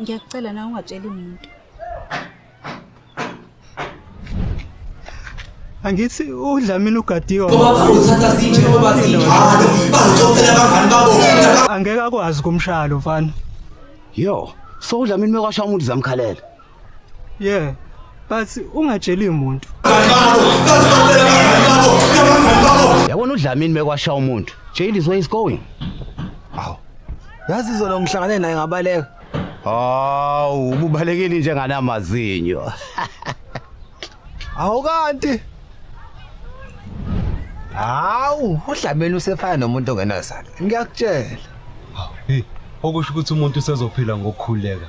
Ngiyakucela na ungatsheli muntu. Angithi uDlamini ugadiwe. Ngoba bazothatha zinje ngoba zinjalo. Bazoxoxela abangani babo. Angeke akwazi kumshalo mfana. Yo, so uDlamini mekwasha umuntu zamkhalela. Yeah. But ungatsheli umuntu. Yabona uDlamini mekwasha umuntu. Jail is where he's going. Aw. Yazi izolo ngihlangane naye ngabaleka. Hawu, ububalekile nje nganamazinyo. Hawu kanti. Hawu, uDlamini usefana nomuntu ongenazalo. Ngiyakutshela. Hey, okusho ukuthi umuntu usezophila ngokukhuleka.